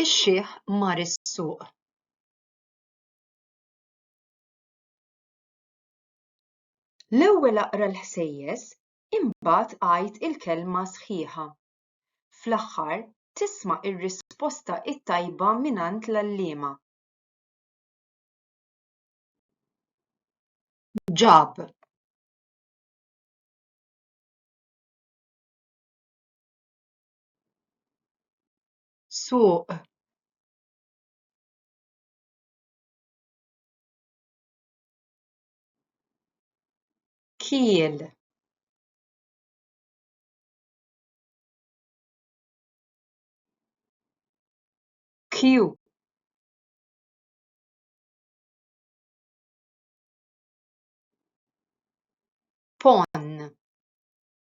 Ix-xiħ mar is-suq. L-ewwel aqra l-ħsejjes, imbagħad għid il-kelma sħiħa. Fl-aħħar, tisma' r-risposta t-tajba mingħand l-għalliema. Ġab. suq kiel kju pon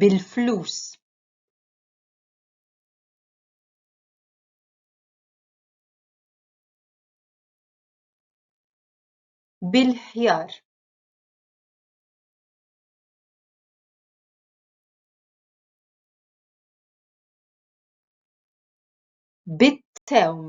bil-flus bil-ħjar bit-tewm